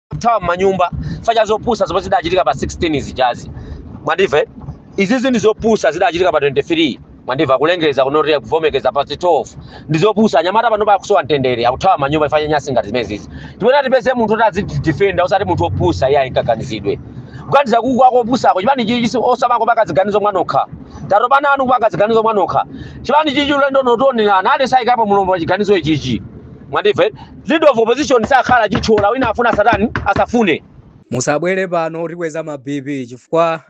kuthawa m'manyumba chifukwa cha zopusa zomwe zidachitika pa 16 zijazi mwandimva izizi ndi zopusa zidachitika pa 23 mwandimva kulengeza kunotiya kuvomekeza pa 12 ndi zopusa anyamata panopa akusowa mtendere akuthawa m'manyumba chifukwa nyansi ngati zimenezizi timene tipeze munthu oti azitidifenda osati munthu opusa iye ayikaganizidwe kuganiza uku akopusako chipani chichi osamakapaka ziganizo mwanokha tatopa nanu paka ziganizo mwanokha chipani chichi ulendo notionerana ade sayikapo mulombo wa chiganizo ichichi mwandimva leader of opposition sakhala chithyola wina afuna satani asafune musabwere pano mutikweza ma bp chifukwa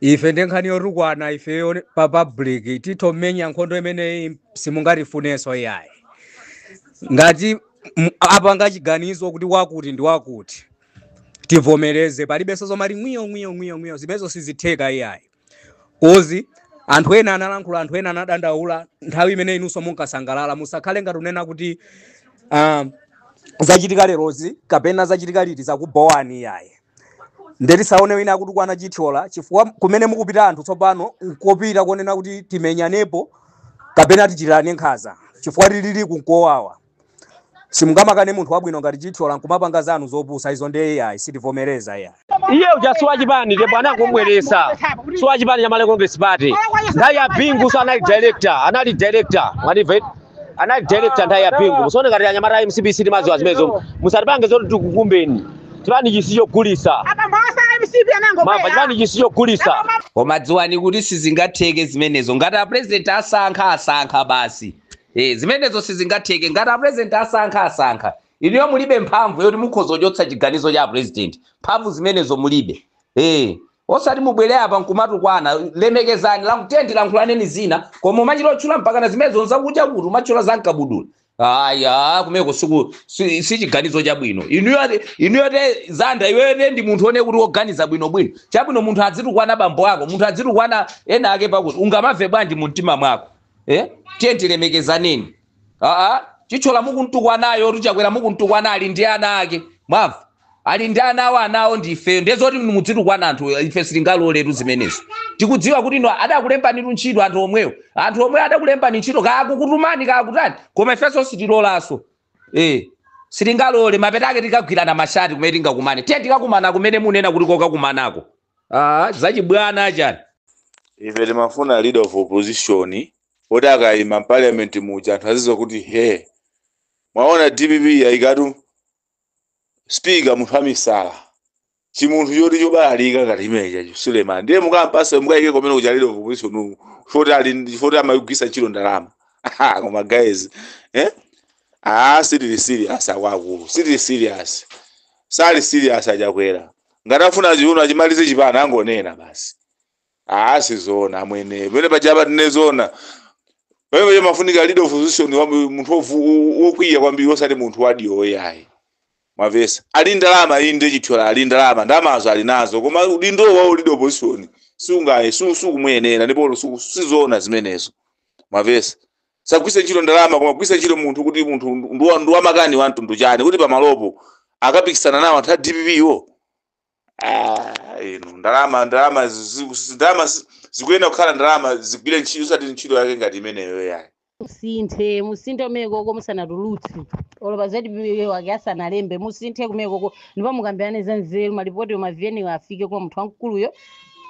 ife ndi nkhani yotukwana ifeyo ni- pa public titho kumenya nkhondo imeneyi simungatifunenso iyayi ngati m- apanga chiganizo kuti wakuti ndi wakuti tivomereze palibenso zomati ngwiyo ngwiyo ngwiyo ngwiyo zimenezo sizitheka iyayi kodi anthu ena analankhula anthu ena anadandaula nthawi imene inunso munkasangalala musakhale ngati unena kuti ah, zachitika lerozi kapena zachitika liti zakubhowani iyayi nde tisaone wina akutukwana chithyola chifukwa kumene mukupita anthu tsopano nkupita kunena kuti timenyanepo kapena tichitirane nkhanza chifukwa tilili nkuwawa simungamakane munthu wabwino ngati chithyola nkumapanga zanu zopusa izo ndiye iyayi sitivomereza iyayi iye uja si wachipani ndipo anangomubweretsa si wachipani cha malawi congress party nthawi ya bingunso anali director anali director mwandimva eti? anali director nthawi ya bingu musaone ngati anyamata a mcp sitimadziwa zimenezo musatipange zoti tikukumbeni chipani ichi si chogulitsa mwamva chipani ichi si chogulitsa koma dziwani kuti sizingatheke zimenezo ngati a president asankha asankha basi Eh, zimenezo sizingatheke ngati a president asankha asankha. Inuyo mulibe mphamvu yoti mukhoza kuchotsa chiganizo cha a president. Mphamvu zimenezo mulibe. Eh, osati mubwere apa nkumatukwana lemekezanani lankhulani nkuti lankhulaneni zina koma kumachita kutchula mpaka na zimenezo nzakuda kuti umatchula za mkabudula. Aya kumeko siku si, si chiganizo chabwino. Inuyo inuyo te zanda iweyo te ndi munthu one kuti woganiza bwino bwino. Chabwino munthu adzitukwana bambo ako, munthu adzitukwana ena ake pakuti ungamamve bwanji mu mtima mwako. eh? tiyeni tilemekezaneni a chithyola mukuntukwanayotu chakwera mukuntukwana ali ndi ana ake mwamva ali ndi ana awo anawo ndi ifeyo ndiye zoti mudzitukwana anthu ife sitingaloletu zimenezo tikudziwa kuti inu adakulembanitu ntchito anthu omwewo anthu omwewo adakulembani ntchito kaya akukutumani kaya akutani koma ifenso sitilolanso eh sitingalole mapeto ake tikagwirana mashati kumene tingakumane tiye tikakumana kumene munena kuti kokakumanako Ah, zachibwana achani ife timafuna leader of opposition oti akayima parliament muja anthu azidziwa kuti eh mwaona dpp yayikatu speaker munthu wamisala chimunthu choti chobalalika ngati imeneuja Suleman ndiye mukampatsa mukayike komwe kuja leader of opposition uku chifoti ali chifoti amayigwiritsa ntchito ndalama Aha, koma guys eh? ah, sitili serious akuluakulu sitili serious sali serious achakwera ngati afuna zoona achimalize chipani angonena basi aa sizoona amwene pamene paja apa tinene zoona pamene paja pamafunika leader of opposition wa- munthu wovu- wo- wokwiya kwambiri osati munthu wadiwo yayi mwamvetsa ali ndalama inde chithyola ali ndalama ndalamazo ali nazo koma udindo wa leader of opposition sungaye su- sukumuyenera ndipo su- sizoona zimenezo mwamvetsa asagwiritse ntchito ndalama koma kugwiritsa ntchito munthu kuti munthu ndi ndi wamakani wa mtundu wanji kuti pamalopo akapikisana nawo anthu a dpp wo Ah, inu ndalama ndalama zi- zi- zi- ndalama zi- zikuyenera kukhala ndalama zigwire ntchito osati ntchito yake ngati imeneyo yayi musinthe musinthe komweko musanatulutse olo pa zatipiwe wake asanalembe musinthe komweko ndipo mukambirane za nzeru malipoti ma VN wo afike kwa munthu wamkuluyo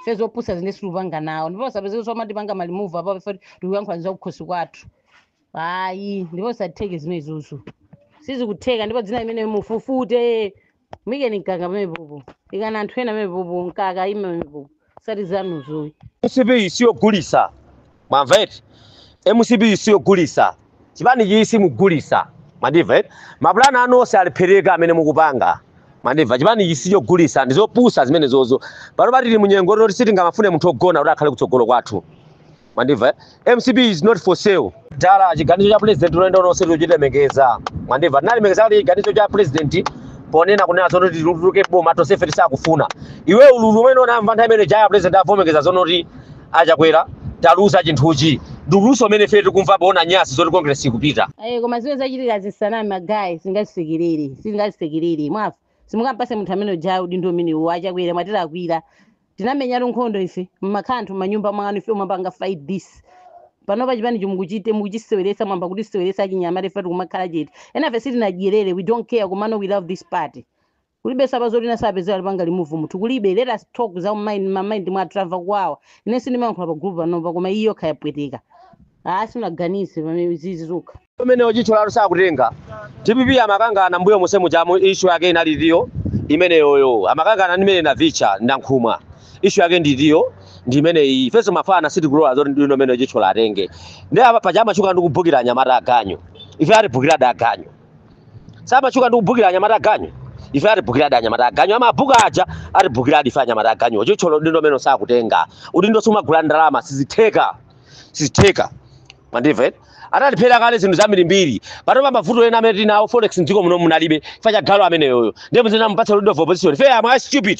ife zopusazi ine sitikupanga nawo ndipo sapezeka zomatipanga ma remove apapa tikuyankhula za kukhosi kwathu ayi ndipo sizitheke zimenezozo sizikutheka ndipo dzina limene mufufute muikeni mkaka pamenepopo ikani anthu ena pamenepopo mkaka aime pamenepopo osati zanuzo ayi mcp siyogulitsa mwamva eti mcp siyogulitsa chipani ichi simugulitsa mandimva eh? mapulani anu onse alephereka amene mukupanga mwandimva chipani ichi sichogulitsa ndizopusa zimenezozo pano pa tili munyengo yoti sitingamafune munthu wogona kuti akhale kutsogolo kwathu mwandimva eh? mcp is not for sale dala chiganizo cha president unoenda unonse tichilemekeza mwandimva tinalemekeza kuti chiganizo cha president ponena kunena zoona tituluke boma tonsefe tisakufuna iwe ululu umene tinamva nthawi imene ija ya president amavomereza zoona kuti achakwera taluza chinthuchi ndi ululunso umene ife tikumva poona nyasi zoti congress ikupita Eh, koma zimene zachitika zisaname magaye sitingazisekerere sitingazisekerere mwamva simungampatse munthu amene uja udindo umenewo achakwera mwatilakwira tinamenyatu nkhondo ife mmakhala anthu mmanyumba mwanu ife timapanga fight this panopa chipani chi mukuchite mukuchiseweretsa mwayamba kutiseweretsa achinyamata ife tikumakhala chete enafe sitinadyerere we don't care komano we love this party Kulibenso apa zoti wina azipezeka atipanga remove munthu kulibe let us talk za mind ma mind mwathu tamva kuwawa ine sindimayankhula pa group panopa koma iyi yokha yapweteka aa sanaganize pamene izizi zokha umenewo chithyolatu sakutenga dpp amakangana mbuyo monse mujamu issue yake inali itiyo imeneyoyo amakangana ndimene navicha ndi nankhumwa issue yake ndi itiyo ndi imeneyi ifenso mafana sitikulola zoti udindo umene chithyola atenge ndi apa paja amatchuka ndi kubhukira anyamata aganyu ife atibhukiradi aganyu samatchuka ndi kubhukira anyamata aganyu ife atibhukiradi anyamata aganyu amabhuka aja atibhukiradi ife anyamata aganyu chithyola udindo umene sakutenga udindo sumagula ndalama sizitheka sizitheka mundimve analephera kale zinthu zambirimbiri panopa mavuto ena amene tinawo forex mdziko muno munalibe chifukwa cha galu ameneyoyo ndiye muzikamupatsa udindo of opposition ife amwe stupid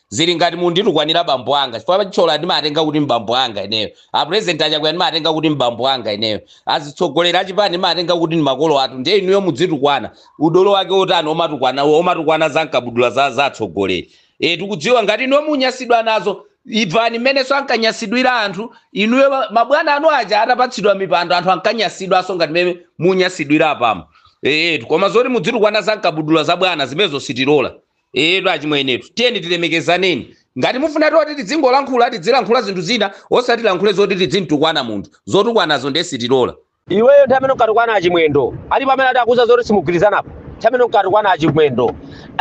zili ngati munditukwanira bambo anga chifukwa achithyola ndimatenga kuti mbambo anga ineyo apresident achakwera ndimatenga kuti mbambo anga ineyo azitsogoleri achipani ndimatenga kuti ndi makolo athu ndiye inuyo mudzitukwana udolo wake otani omatukwana omatukwana za nkabudula za za atsogoleri e tikudziwa ngati inuyo munyasidwa nazo ivani mmenenso ankanyasidwira anthu inuyo ma- mabwana anu aja atapatsidwa mipando anthu ankanyasidwanso ngati mmene munyasidwira apamo ee koma zoti mudzitukwana za nkabudula za bwana zimenezo sitilola etu achimwenetu tiyeni tilemekezaneni ngati mufuna toti tidzingolankhula tidzilankhula zinthu zina osati tilankhule zoti tidzimtukwana munthu zotukwanazo ndiye sitilola iweyo nthawi imene unkatukwana achimwendo alipo amene adakuuza zoti simugwirizanapo nthawi imene unkatukwana achimwendo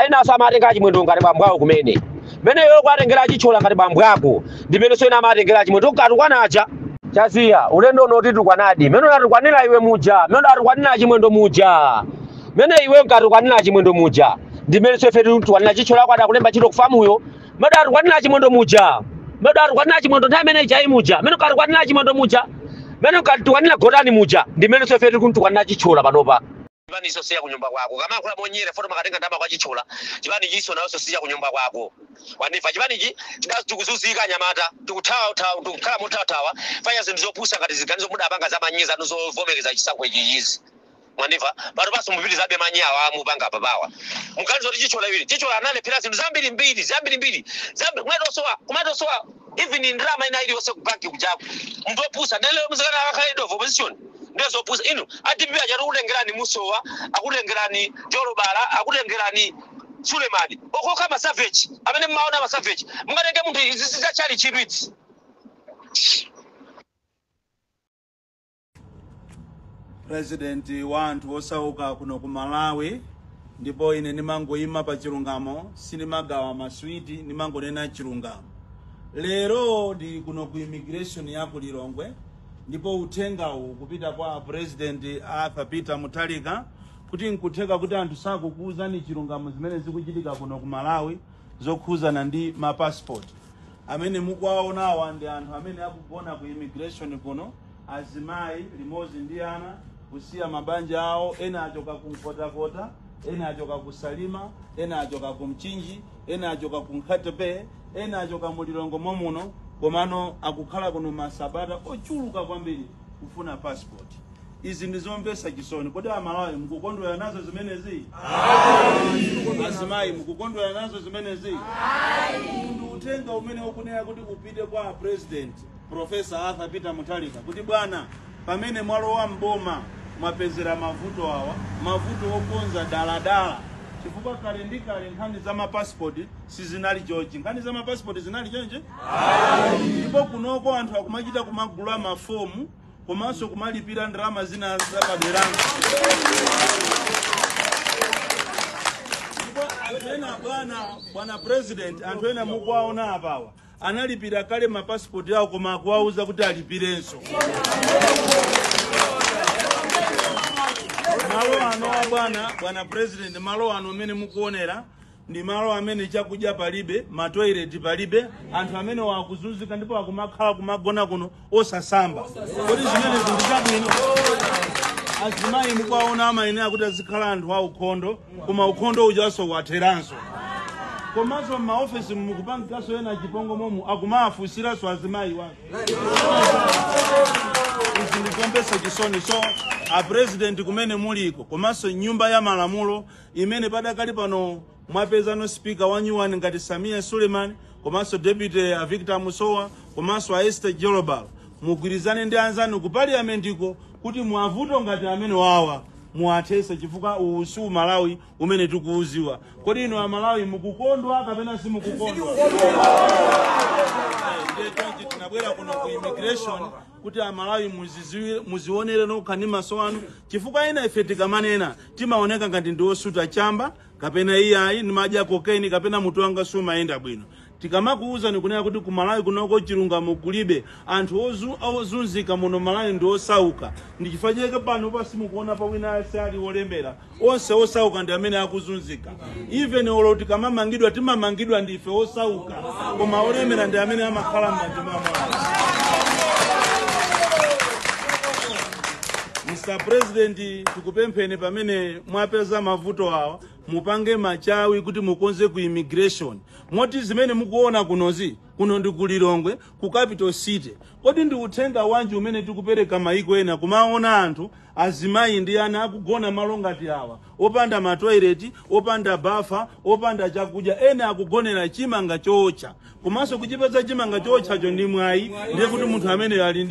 enaso amatenga achimwendo ngati bambo awo kumene mene iwe ukuwatengera achithyola ngati bambo ako ndimenenso ena amatengera achimwendo unkatukwana aja chaziya ulendo uno titukwanadi mene unatukwanira iwe muja mene unatukwanira achimwendo muja mene iwe unkatukwanira achimwendo muja ndimenenso ife titukwanira chithyola ako adakulemba ntchito kufamuyo mene unatukwanira achimwendo muja mene unatukwanira achimwendo nthawi imene ijayi muja mene unkatukwanira achimwendo muja mene unkatukwanira gotani muja ndimenenso ife tikuntukwanira chithyola panopa chipani iso si ya kunyumba kwako kama akula monyere poti umakatenga ndama kwa chithyola chipani chiso naonso si ya kunyumba kwako wandimva chipani chi chida- tikuzuzika anyamata tikuthawa thawa- tikukhala mothawa chifukwa cha zinthu zopusa ngati ziganizo mudapanga za manyi zanu zovomereza chisankho ichichizi mwandimva panopanso mupitizabe manyi awa mupanga apapawa muganiza kuti chithyola iwiri chithyola analephera zinthu zambiri mbiri zambiri mbiri zambiri kumatosowa kumatosowa even ndalama ina iliyonse kubanki kujaku munthu opusa nde lero muzikanena akakhale leader of opposition ndiye zopusa inu adpp achati akutengerani musowa akutengerani jolobala akutengerani sulemani okhaokha masaveji amene mmaona masaveji mungatenge munthu izi zizachali chidwitsi president wa anthu osauka kuno ku malawi ndipo ine ndimangoyima pa chilungamo sindimagawa maswiti ndimangonena chilungamo lero ndili kuno ku immigration ya ku lilongwe ndipo uthengawu ukupita kwa president arthur peter mutharika kuti nkutheka kuti anthu sakukuwuzani chilungamo zimene zikuchitika kuno ku malawi zokhuzana ndi mapasipoti amene mukuwaonawa ndi anthu amene akugona ku immigration kuno azimayi limodzi ndi ana kusiya mabanja awo ena achoka ku nkhotakota ena achoka ku salima ena achoka ku mchinji ena achoka ku nkhatabay ena achoka mu lilongwe momuno komano akukhala kuno masabata ochuluka kwambiri kufuna passport izi ndi zomvetsa chisoni kodi amalawi mukukondwera nazo zimenezi azimayi mukukondwera nazo zimenezi ndi uthenga umene ukuyenera kuti upite kwa president Profesa Arthur Peter Mutharika kuti bwana, pamene mwalowa mboma mwapezera mavuto awa, mavuto okonza daladala chifukwa kale ndi kale nkhani za mapasipoti sizinali chonchi. Nkhani za mapasipoti sizinali chonchi ndipo kunoko anthu akumachita kumagula mafomu komanso kumalipira ndalama zina zapadera ndipo anthu ena bwana bwana president anthu ena mukuwaona apawa analipira kale mapasipoti awo koma akuwauza kuti alipirenso malo ano a bwana bwana president malo ano amene mukuonera ndi malo amene chakudya palibe matoileti palibe anthu amenewa akuzunzika ndipo akumakhala kumagona kuno osasamba kodi zimenezi ndi zabwino azimayi mukuwaona amayenera kuti azikhala anthu aukhondo koma ukhondo ujanso watheranso komanso m'maofesi mukupangikanso zachipongwe momu akumawafunsiranso azimayiwa zikundimvetsa chisoni so a president kumene muliko komanso nyumba ya malamulo imene padakali pano mwapezano speaker wanyuwani ngati Sameer Suleman komanso deputy a Victor Musowa komanso a Esther Jolobala mugwirizane ndi anzanu ku parliamentiko kuti mavuto ngati amenewawa muwathese chifukwa uwu si umalawi umene tikuudziwa kodi inu amalawi mukukondwa kapena simukukondwa ndiye chonchi tinabwera kuno ku immigration kuti amalawi muziziwe- muzionere nokha ndi maso anu chifukwa enafe tikamanena timaoneka ngati ndi osuta chamba kapena iyayi ndimadya cocaine kapena mutu wanga sumayenda bwino tikamakuwuzani kunena kuti ku malawi kunoko chilungamo kulibe anthu ozu- ozunzika muno malawi ndi osauka ndi chifukwa chake pano simukuonapo wina aliyense ali olemera onse osauka ndi amene akuzunzika even olo tikamamangidwa timamangidwa ndi ife osauka koma olemera ndi amene amakhala m'manja mwa Mulungu. Mr. President tikupempheni pamene mwapeza mavuto awa mupange machawi kuti mukonze ku immigration moti zimene mukuona kunozi kuno ndi ku lilongwe ku capital city kodi ndi uthenga wanji umene tikupereka maiko ena kumaona anthu azimayi ndi ana akugona malo ngati awa opanda matoileti opanda bafa opanda chakudya ena akugonera chimanga chootcha komanso kuchipeza chimanga chootchacho ndi mwayi ndiye kuti munthu amene ali ndi